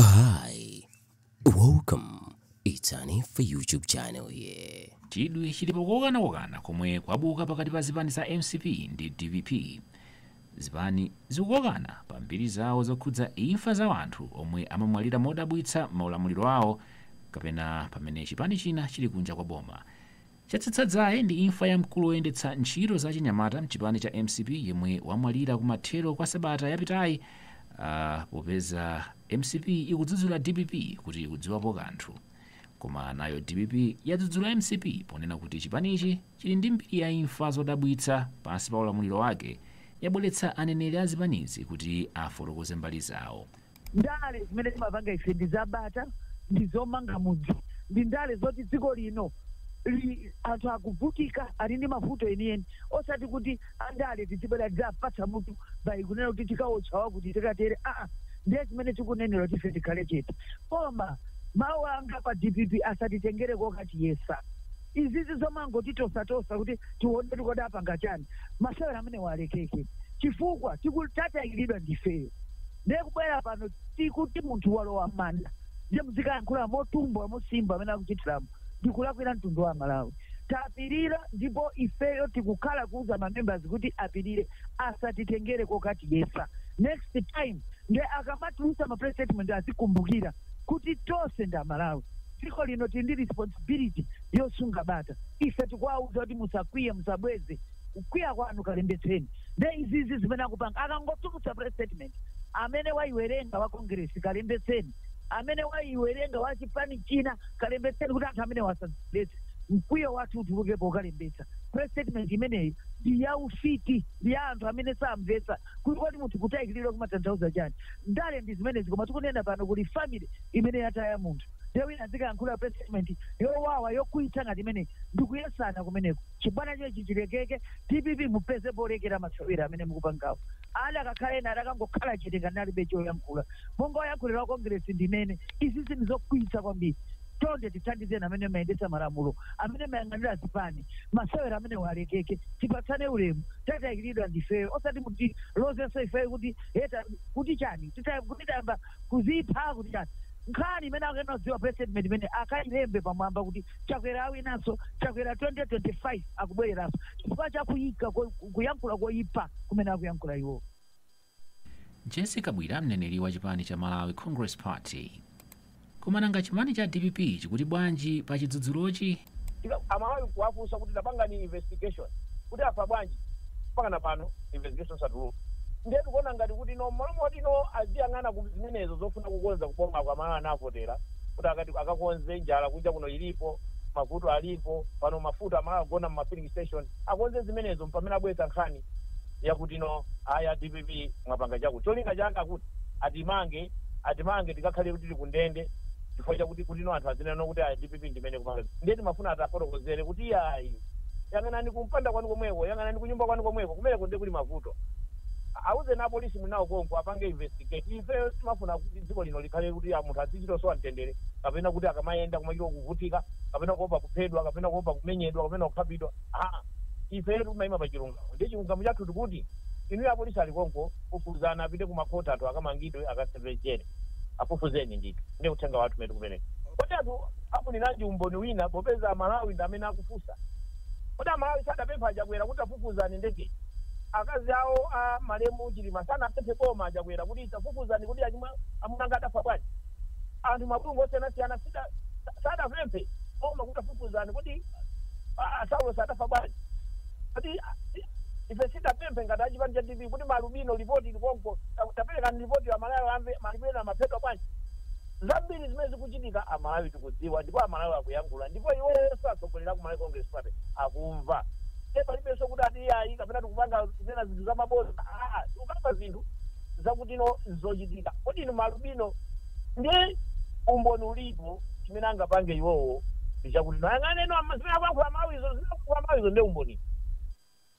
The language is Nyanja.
Hi, welcome. It's an Infa YouTube channel here. chidwi chili pakukanakokana komwe kwabuka pakati pa zipani za mcp ndi dpp zipani zikukokana pa mbiri zawo zokhudza imfa za anthu omwe amamwalira modabwitsa m'maulamuliro awo kapena pamene chipani china chili kunja kwa boma Chatsitsa dzaye ndi imfa ya mkulu woyendetsa ntchito za achinyamata mchipani cha mcp yemwe wamwalira kumathero kwa sabata yapitayi popeza mcp ikudzudzula dpp kuti ikudziwapo kanthu koma nayo dpp yadzudzula mcp ponena kuti chipanichi chili ndi mbiri ya imfa zodabwitsa pansi pa ulamuliro wake yabweretsa aneneri a zipanizi kuti afotokoze mbali zawo. Ndale zimene timapanga ife ndi za bata, ndi zomanga mudzi, ndi ndale zoti dziko lino anthu akuvutika, ali ndi mavuto enieni, osati kuti andale tidzibwera tidzapatsa mutu bai kunena kuti tikawotcha wakuti, tikatere aa! Ndiye zimene tikunenera kuti ife tikhale chete. Koma mawu anga pa dpp asatitengere kokatiyesa. Izizi zomangotitosatosa kuti tione kuti kodi apanga chani, masewera amenewa alekeke chifukwa tiku, tatayikiridwa ndi ifeyo. Ndiye kubwera pano tikuti munthu walowa m'manda ndiye muzikayankhula motumbwa mosimba amene akuchitiramu ndikulakwira mtundu wa Amalawi. Tapirira ndipo ifeyo tikukhala kuuza ma members kuti apirire asatitengere kokatiyesa. Next time ndiye akamatulutsa ma press statement azikumbukira kuti tonse ndi Amalawi. Dziko lino tili ndi responsibility yosunga bata. Ife tikuwauza kuti musakwiye, musabweze. kukwiya kwanu kalembetseni nde izizi zimene akupanga akangotulutsa press statement amene waiwerenga wa congress kalembetseni amene waiwerenga wa chipani china kalembetseni kuti anthu amenewa salembetse mkwiyo wathu utuluke pokalembetsa press statement imeneyi ndi ya ufiti ndi ya anthu amene samvetsa kuti kodi munthu kutayikiridwa kumatanthauza chani ndale ndi zimenezi koma tikunena pano kuli family imene yataya munthu nde wina azikayankhula press statement yowawa yokwiyitsa ngati imeneyi ndikuyesana kumeneko Chibwana chochi chilekeke, dpp mupeze polekera masewera amene mukupangawo. Adakakhala ena adakangokhala chete ngati alibe choyankhula. Monga oyankhulira wa Congress ndinene, izizi ndizokwiyitsa kwambiri. Chonde tithandizeni amene mmayendetsa malamulo, amene mmayang'anira zipani, masewera amenewa alekeke. Tipatsane ulemu, tatayikiridwa ndifeyo osati mutilozenso ifeyo kuti eta kuti chani tita kuti tayamba kuzipha kuti chani. Nkhani imene akuyenera kudziwa president imene akailembe pamwamba kuti chakwera awinanso chakwera 2025 akubwereranso chifukwa chakuyika ko- kuyankhula koyipa kumene akuyankhula iwowo Jessie Kabwila mneneri wa chipani cha malawi congress party koma nanga chipani cha dpp chikuti bwanji pa chidzudzulochi Tika- amalawi kuwafunsa kuti tapangani investigation kuti afa bwanji mpakana pano investigation satuluka ndiye tikuona ngati kuti no mmalo moti no aziyang'ana zimenezo zofuna kukonza kuboma komwe amalawi anavotera kuti akati akakonze njala kunja kuno ilipo mavuto alipo pano mafuta amalawi agona mu filling station akonze zimenezo mpamene abweretsa nkhani yakuti no aa a dpp mwapanga chakuti cholinga chake chakuti atimange atimange tikakhale kuti tili kundende chifukwa chakuti kuti no anthu azinena kuti ayi dpp ndimene ikupanga ndiye timafuna tiwafotokozere kuti ayi yang'anani kumpanda kwanu komweko yang'anani kunyumba kwanu komweko kumeneko ndiye kuli mavuto Awuzeni apolisi muli nawo konko apange investigate. Ifeyo sitimafuna kuti dziko lino likhale kuti a munthu azichita kusowa mtendere kapena kuti akamayenda kumachita kuvutika kapena kuopa kuphedwa kapena kuopa kumenyedwa kapena kukhapidwa haa. Ifetu timayima pa chilungamo ndiye chilungamo chathu tikuti inuyo apolisi ali konko fufuzani apite ku ma court anthu akamangidwe akaseve jere. Afufuzeni ndithu ndiye uthenga wathu umene tikupereka. Kodi anthu afuniranji umboni wina popeza a Malawi ndi amene akufunsa? Kodi amalawi sadapemphe a Chakwera kuti tafufuzani ndegeyi? Akazi awo a malemu Chilima sanapemphe boma la a Chakwera kuti tafufuzani kodi achimwa amuna anga adafa bwanji? Anthu mabungwe osiyanasiyana sida- sa- sadapemphe boma kuti tafufuzani kodi a- a Saulos adafa bwanji? Kodi a- si- ife sidapemphe ngati achipani cha DPP kuti malubino lipoti likonko ta- taperekani lipoti amalawi amve malubino amaphedwa bwanji? Zambiri zimene zikuchitika a Malawi tikudziwa ndipo a Malawi akuyankhula ndipo iwowonso atsogoleri aku Malawi Congress Party akumva nde palibenso kuti ati iyayi kapena tikupanga kunena zinthu za mabodza aa tikukamba zinthu zakuti no nzochitika kodi inu malubino ndi umboni ulipo chimene angapange iwowo ndichakuti ayang'aneno zimene akuyankhula aMalawizo zimene akuyankhula aMalawizo nde umboni